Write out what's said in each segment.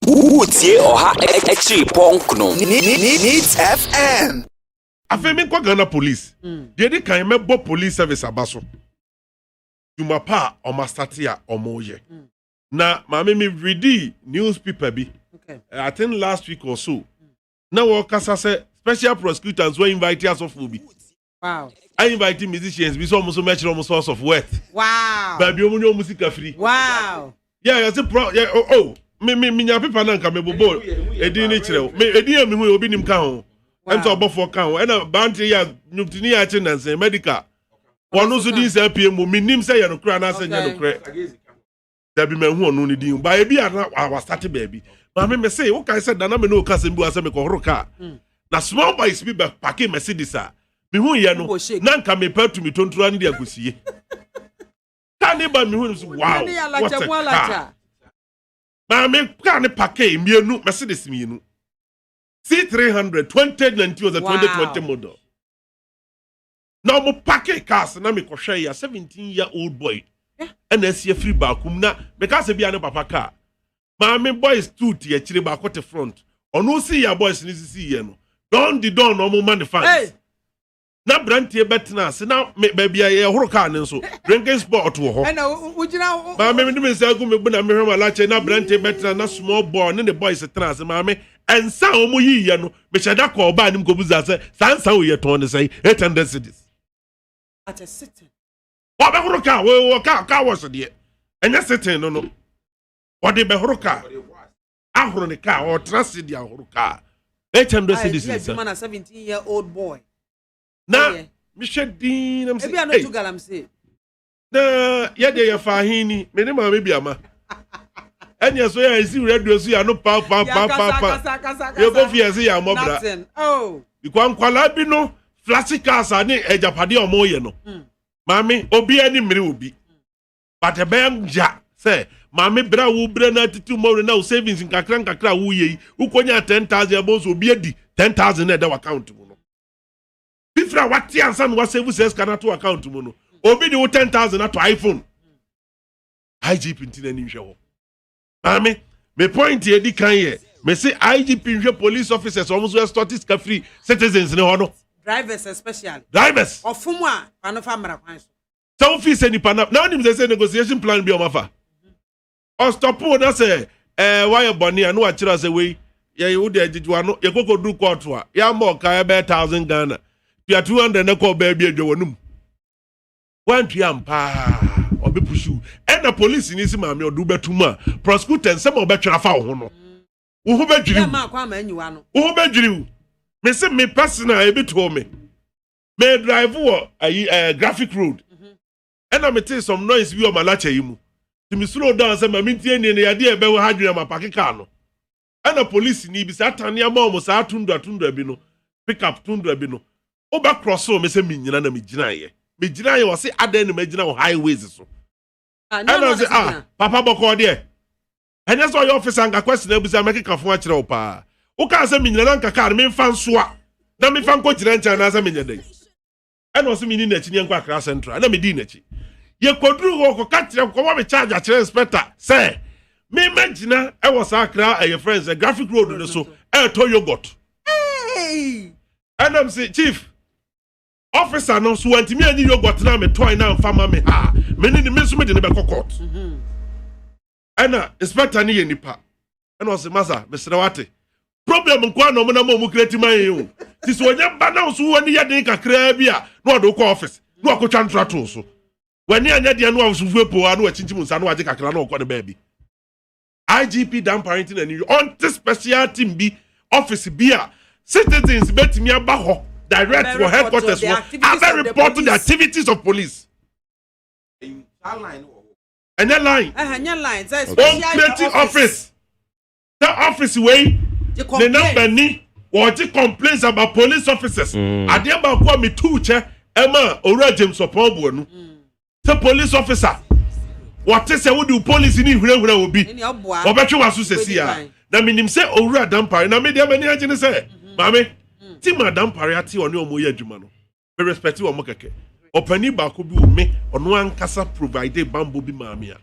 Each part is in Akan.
Woretie ɔha akyiri pɔnk no needs fm. Afei menkɔ Ghana police. Deɛ di kan mɛbɔ police service aba so. Dwuma pa a wɔn asate a wɔn yɛ. Na maame me readi newspaper bi. Eh, I think last week or so. Na wɔkasa sɛ special prosecutor nso invite asɔfoɔ bi. wow I invite musicians bi sɛ ɔmo so mɛkyerɛ ɔmo source of worth wow baabi ɔmo nya ɔmo sika firi wow yɛ yɛ se pro yɛ o o me me me nya pepa na nka me bobo edin ne kyerɛ o me edin yɛ me hu yɛ obi nim ka ho ɛnta ɔbɔfoɔ ka ho ɛna bante yɛ nyomtini yɛ akye nansan medical wɔn nso din sɛ pie mu me nim sɛ yɛ no korɛ anaasɛ nyɛ no korɛ. dabi mɛhu ɔno ne din ba ebi a na wasate baabi maame mɛ se wokae sɛ dana me ne woka asɛm bi wa sɛ mekɔhoro kaa mm. na small boys bi bɛ pake mercedes a mehu yɛ no na nka mepɛ tumi tontora ne de ankɔsie kaa ne ba mehu no so wow what a car maame kaa ne pake mmienu mercedes mmienu c300 2019 was a 2020 model na ɔmo pake cars na mekɔ hwɛ ya seventeen year old boy ɛna asi afiri baako mu na meka sɛ bia ne papa kaa maame boys two te akyire baako te front ɔno si ya boys ne sisi yɛ no dɔn di dɔn na ɔmo ma ne fans na brantie bɛtena ase na baabi a yɛhoro kaa ne nso drinking spot wɔ hɔ maame mede me nsa agu me bo na mehwɛ ma lakyɛ na brantie bɛtena na small boy ne ne boys tena ase maame ɛnsa a ɔmo yiyɛ no mehyɛ da kɔ ɔbaa anim kɔbusa sɛ saa nsa wei yɛtɔn ne sɛn 800 cities wɔbɛhoro kaa wɔwɔ kaa kaa wɔhyɛ deɛ ɛnyɛ seten no no wɔde bɛhoro kaa ahoro ne kaa ɔtena se de ahoro kaa 800 cities nsa na mehwɛ din na mesɛ na yɛ deɛ yɛfa ahe ni me ne maame bi ama ɛne ɛso yɛ ɛsi wura duro so yɛ ano paapaapaapaa yɛkɔ fi ɛse yɛ amɔ bra oh. bikɔ nkwalaa bi no flasi cars ne agyapadeɛ a wɔyɛ no hmm. maame obi ani mmiri obi hmm. but ɛbɛyɛ ngya sɛ maame bere a wobrɛ no atete mmɔwerɛ na wo savings nkakra nkakra a woyɛ yi wokɔnya 10000 ɛbɔ nso obi adi 10000 na ɛda w'account mu no fifiri a wate ansa na wasevu sɛ sika no ato account mu no obi de wo ten thousand ato iphone igp nti na ni nhwɛ hɔ maame me point edi kan yɛ me se igp nhwɛ police officers wɔn nso ɛsɔ te sika firi citizens ne hɔ no. drivers especially. drivers. ɔfom a panofa mmara kwan so. sɛ wofi sɛ nipa na na wonim sɛ sɛ negotiation plan bi ɔmafa ɔstɔpoo na sɛ ɛɛ wayɛ bɔne a na wakyerɛ sɛ wei yɛyɛ wo de agyegye wano yɛkɔkɔ duru kɔɔto a yɛama ɔka ɛbɛyɛ thousand ghana tua two hundred na kɔɔ baabi adwa wɔnum wantua mpaa ɔbɛ pusu ɛna polisi ni si maame ɔde wobɛto mu a prosecutor nsɛm a ɔbɛtwere afa wo ho no wo ho bɛdwiri wo wo ho bɛdwiri wo me se me personal ebi too me me drive wɔ ayi ɛɛ eh, graphic road. ɛna me tee some noise bi wɔ malacha yi mu nti me slow down sɛ ma me ntie nie na yadeɛ a ɛbɛ wɔ ha adwene a ma pake car no ɛna police ni bi saa tane ama wɔn saa tundra tundra bi no pick up tundra bi no wo bɛ cross wɔ me sɛ me nyina na me gyinaeɛ me gyinaeɛ wɔ se adɛn na ma gyina wɔ highways so ah, ɛna ɔse ah papa bɔkɔɔ deɛ ɛnyɛ sɛ ɔyɛ officer nka question abusa mɛkeka fo akyerɛ wo paa wokaa sɛ me nyina na nka car me mfa nsoa na mefa nkɔ gyina nkyɛn anaasɛ menyɛ dɛn ɛna ɔsɛ menni n'akyi ne yɛnkɔ akra central ɛna medii n'akyi yɛkɔduru hɔ kɔka kyerɛ kɔma me charge akyerɛ inspector sɛ memagyina ɛwɔ saa akra ɛyɛ friends ɛ graphic road no so ɛɛtɔ yogurt ɛnam se chief ɔfisa no so wantumi anyi yogurt no a metɔe no amfa ma me ha me ne ne me nso mede no bɛkɔ court mhm. ɛna inspector no yɛ nipa ɛna ɔsɛ masa mesrɛ wate problem nko a na ɔmo nam ɔmo kura ti ma yɛn o ti sɛ ɔnyɛ mba na nso wɔn ani yɛ den kakraa bi a na ɔde kɔ ɔfis na ɔkotwa ntora to so wɔn ani deɛ no awosofo epo a na wɔakyinkyim nsa na wɔagye kakra na ɔkɔ ne baabi igp dan parenti na ne ɔnte special team bi ɔfis bi a citizens betumi aba hɔ direct wɔ headquarters wɔ abɛ report the activities of police. ɛnyɛ line wɔn create office sɛ office wei ne number ni wɔgye complaints about police officers mm. adeɛ baako a metu kyɛ ɛma owura james ɔpɔn bu ɛnu mm. sɛ police officer wɔte sɛ wode police ne nhurahura wɔ bi wɔbɛtwe w'aso sɛsi ya na menim sɛ owura dampare na medeɛ m'ani agye ne sɛ mm-hmm. maame mm. ti ma dampare ate ɔne ɔmo yɛ adwuma no me respect wɔn kɛkɛ ɔpanin baako bi wɔ me ɔno ankasa provide bambɔ bi maa me a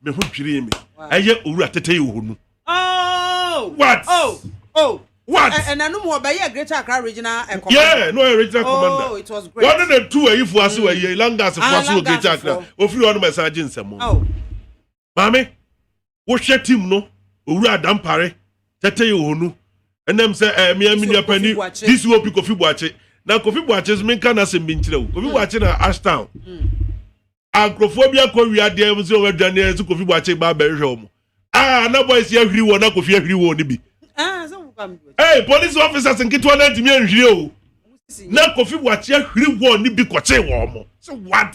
me ho dwirii me ɛyɛ owura tete yi wɔ nu. Oh! what oh oh what ɛnanum wɔ bɛyɛ greater accra regional eh, commander yeah no ɔyɛ regional oh, commander oh it was great wɔn na tu ayifo ase wɔ yɛ langas fo ase wɔ greater accra ofiri wɔn na ɛsan agye nsɛm. Maame, wohwɛ team no, Owura Adampare, tɛtɛ yɛ wɔn nu. Ɛnam sɛ ɛɛ eh, mmea mmea pani, DCOP Kofi Buakye. Na Kofi Buakye nso menka n'asɛm bi nkyerɛ wo. Kofi hmm. Buakye na Ashtown. Hmm. A nkurɔfoɔ bi akɔ wia adeɛ mu sɛ wɔn adwane ɛsɛ Kofi Buakye ba abɛhwɛ wɔn. A na boys yɛ ahwiri wɔn na Kofi ahwiri wɔn no bi. Ah, Ee police officers nketewa na ntumi nhwiri o. Na Kofi Buakye ahwiri wɔn no bi kɔkye wɔn. So what?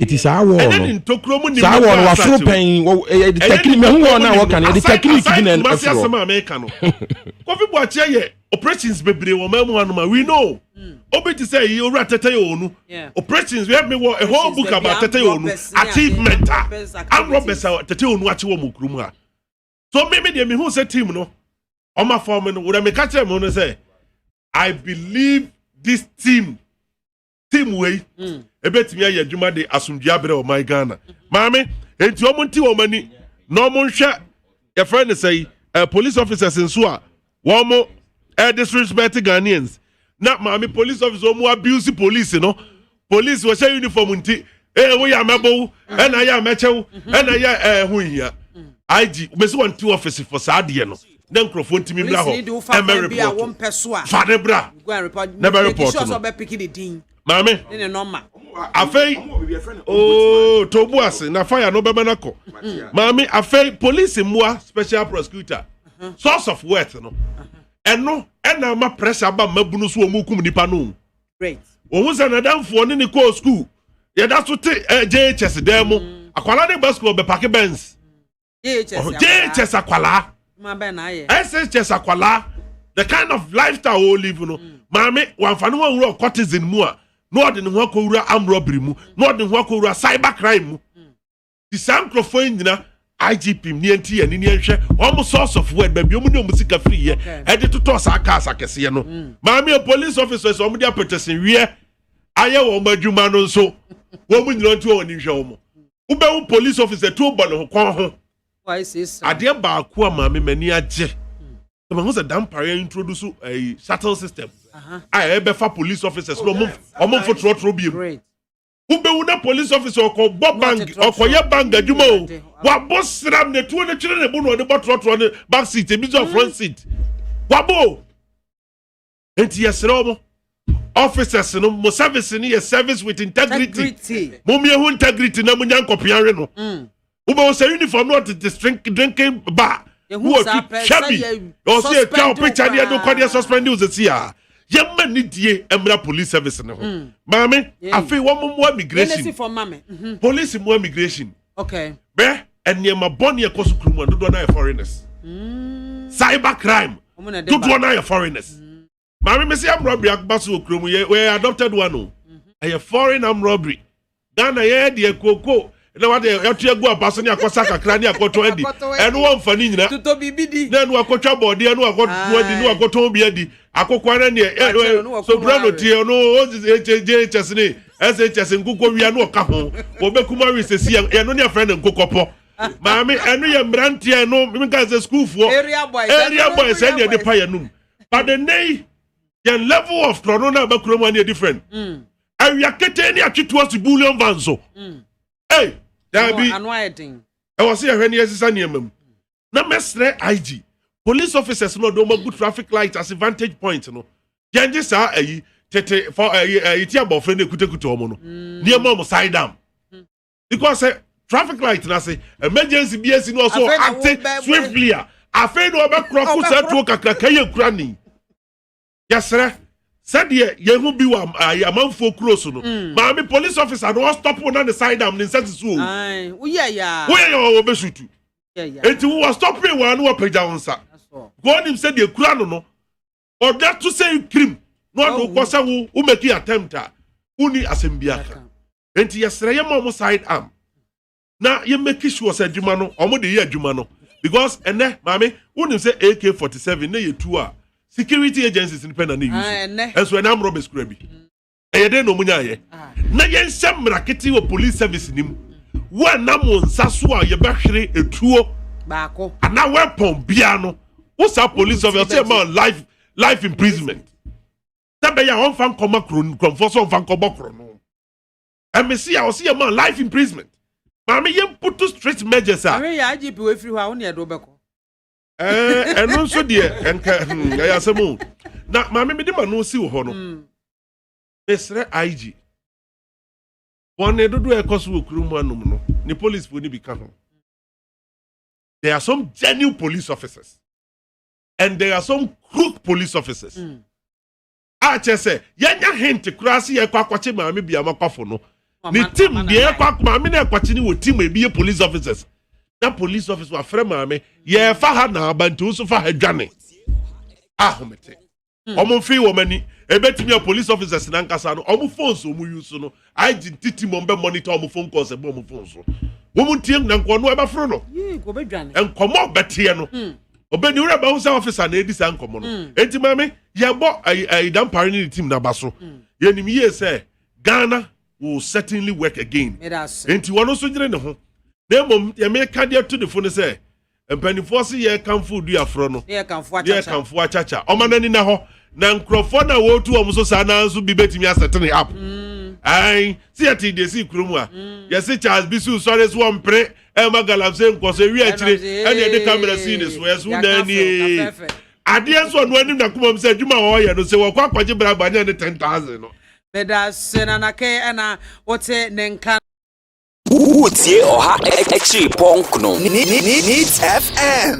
Iti saa wɔɔ no saa wɔɔ no waforo pɛn ɛyɛ tɛkini mɛ hu wɔɔ no a wɔka no ɛde tɛkini kibi na ɛforo. ase asɛm a mɛka no Kofi Boakye yɛ operations bebree wɔ mɛmu anoma we know hmm. obi ti sɛ yi owura tɛtɛ yɛ onu operations wɛ mi wɔ a whole book about tɛtɛ yɛ onu achievement a amrɔbɛs a tɛtɛ yɛ onu akyi wɔ mu kuru mu a so mímí deɛ mi hu sɛ team no ɔmo afɔm no wura mi ka kyerɛ mi no sɛ I believe this team. team wei mm. ebetumi ayɛ adwuma de asomdwe abrɛ ɔman ghana maame enti wɔn nti wɔn ani na wɔn nhwɛ yɛfrɛ ne sɛ yi eh, police officers nso a wɔn eh, disrespect ghanaians na maame police officer wɔn abuse police no police wɔhyɛ uniform nti ee woyɛ a mɛbɔ wo ɛna yɛ a mɛkyɛ wo ɛna yɛ ɛɛ ho nhia ig mesi wɔn ti ɔfisi fɔ saa adeɛ no na nkurɔfoɔ ntumi bra hɔ ɛmɛ repɔt fa ne bra na bɛ repɔt no maame afei ooo oh, tobu ase na fire no bɛma nakɔ maame afei polisi mmoa special prosecutor uh-huh. source of wealth no uh-huh. ɛno ɛna ama pressure aba mmabunu so wɔn kum nipa no. ohun sɛ n'adamfoɔ ne ne kɔɔ sukuu yɛda so te eh, jhs dan mu mm. akwalaa ne ba sukuu ɔbɛpake bɛns jhs akwalaa shs akwalaa the kind of lifestyle wɔ live no mm. maame wamfa ne ho awura ɔkɔtizin mu a na ɔde ne ho akɔwura amrɔbiri mu na ɔde ne ho akɔwura cyber crime mu. ti saa nkurɔfoɔ yi nyina igp m neɛ nti yɛ ne neɛ nhwɛ wɔn sɔ ɔsɔfo wɛn baabi wɔn ne wɔn sika firi yɛ ɛde totɔ saa cars akɛseɛ no mm. maame yɛ police officers wɔn de apɛtɛsɛn wiɛ ayɛ wɔn adwuma no nso wɔn nyina nti wɔn ni nhwɛ wɔn wobɛhu police officer tuo bɔ ne ho kɔn ho adeɛ baako a maame m'ani agye sɛ mahu sɛ dampare a introduce ɛyi eh, shuttle system a ɛbɛfa police officers na ɔmo ɔmo mfo torɔtorɔ biem wobɛwu na police officer ɔkɔbɔ bank ɔkɔyɛ bank adwuma o wabɔ sram na tuo no twere ne bo na ɔde bɔ torɔtorɔ ne back seat ebi sɛ front seat wabɔ o nti yɛsrɛ wɔn officers no mo service no yɛ service with integrity mo mmea ho integrity na mo nya nkɔpea we no. Mm. wobɛwɔ sɛ uniform no ɔtete string drinking bar wɔtwitwa bi ɔsɛ yɛtwa wo picture ne ɛde kɔdeɛ suspending wo sɛsi a yɛma ne die mmra police service no ho hmm. maame afei wɔn mmoa migration mhm. police mmoa migration bɛ nneɛma bɔne ɛkɔ so kurom a dodoɔ no ayɛ foreigners hmm. cyber crime dodoɔ no ayɛ foreigners hmm. maame mesi amrɔbiri akoma so wɔ kurom yɛ wɔyɛ adopted one o ɛyɛ mhm. foreign amrɔbiri ghana yɛ deɛ kooko na wade yɛto agu aba so ne akɔsa kakra ne akɔtɔn adi ɛno wɔmfa ne nyina na ɛno akɔtwa bɔɔde ɛno akɔtɔn adi ne akɔtɔn bi adi akokwa no neɛ sobura no tie ɔno ɔgyɛgyɛs ne ɛsɛgyɛs nkokɔ wia ne ɔka ho wɔbɛkum awe sɛsi ɛno ne afrɛ ne nkokɔpɔ maame ɛno yɛ mmeranteɛ ɛno menka sɛ sukuufoɔ area boys ɛne ɛde pa yɛnom but the name yɛn level of tɔno na abakura mu ani different mm. awia kete ne atwetuo si bullion van so mm. ei daabi ɛwɔ sɛ yɛhwɛ ne yɛsesa nneɛma mu na mɛsrɛ ig police officers no ɔde wɔn agu traffic light ase vantage point no yɛn gye saa ayi tete fɔ ɛyi ɛyi ti abɔfra no ekutakuta wɔn no mm. nneɛma wɔn side down. because sɛ traffic light na se emergency bi esi na ɔsɔ acte swiftly a afei na ɔbɛkorɔ ko sɛ tuo kakraka yɛ kura ni yɛsrɛ sɛdeɛ yɛn ho bi wɔ amanfoɔ kuro so no mm. maame police officer na ɔstɔpo na ne side am ne nsa sisi o woyɛ yɛ a wɔbɛsutu eti wo wɔ stɔpee wɔn ano wɔpagya wɔn nsa wɔn nim sɛ deɛ kura no no ɔda to sɛ kirim na ɔde wokɔ sɛ wo womɛki attempt a wonni asɛm bi aka nti yɛsrɛ yɛma ɔmo side arm na yɛ make sure sɛ adwuma no ɔmo de yɛ adwuma no because ɛnɛ maame wonim sɛ ak forty seven ne yɛ tu a security agencies no pɛ na ne use ah, ɛnso ɛnɛ amorɔ bɛsikura bi ɛyɛ dɛn na ɔmo nya ayɛ ah. na yɛnhyɛ mmara kete wɔ police service ni mu wɔnam wɔn nsa so a yɛbɛhwere etuo baako anaa weapon bia no wosa police officer ɔsɛ ma life life imprisonment. sɛ ɛbɛyɛ a ɔmfa nkɔma kuro no kurɔmfoɔ sɛ ɔmfa nkɔbɔ koro no ɛmese a ɔse yɛ ma life imprisonment maame yɛ mputu strict measures a ɔhwɛ yɛ agp wafiri hɔ a wo ne ɛde wobɛkɔ ɛno nso deɛ nka hmm, ɛyɛ asɛm o na maame mede ma no si wo hɔ no hmm. mesrɛ ig bɔne dodoɔ ɛkɔ so wɔ kurom mu anom no ne policefoɔ no bi ka ho there are some genuine police officers and there are some crook police officers mm. a kyerɛ sɛ yɛnya hint koraa sɛ yɛkɔ akɔkye maame biama kwafo no ne tim deɛ ɛkɔ akɔ maame na ɛkɔkye ne wɔ tim ebi yɛ police officers na police officer wafrɛ maame yɛfa ha na aba nti nso fa ha dwane ahomete wɔn hmm. mfe wɔn ani ebetumi a police officers nankasa no wɔn phones wɔn use no I didn't teach him on be monitor on phone calls and on phone so. Woman team na nkono eba fro no. Yee, go be dwane. Nkomo betie no. Hmm. Obe ni wura ba unsa officer na edi sa nkomo no. Hmm. Enti mame, ye bo ayi dan pare ni team na baso. Hmm. Ye nim ye se Ghana will certainly work again. Enti wono so nyere ne ho. Na mom ye me ka dia to the phone se Mpanimfoɔ se yɛrekamfo Oduaforɔ no, ne yɛrekamfo Achacha. Ɔma no ani nna hɔ. Na nkurɔfoɔ no a wɔretu wɔn so saa no ara nso bi bɛtumi asɛte ne app. Aane, se yɛtee deɛ ɛsii kuro mu a, yɛse Charles Bissou sɔre so ɔmpere mma Galamsey nkɔ so. Ɛwie akyire ɛna yɛde kamera sii ne so. Ɛso naa nie. Adeɛ nso ɔno anim n'akoma mu sɛ adwuma a ɔreyɛ no, se wɔkɔ akɔgye bribe a, nyɛ ne ten thousand no. Meda ase, Nana Kay, ɛna wote ne nka no. Woretie ɔha akyiri pɔnkno. Neat FM.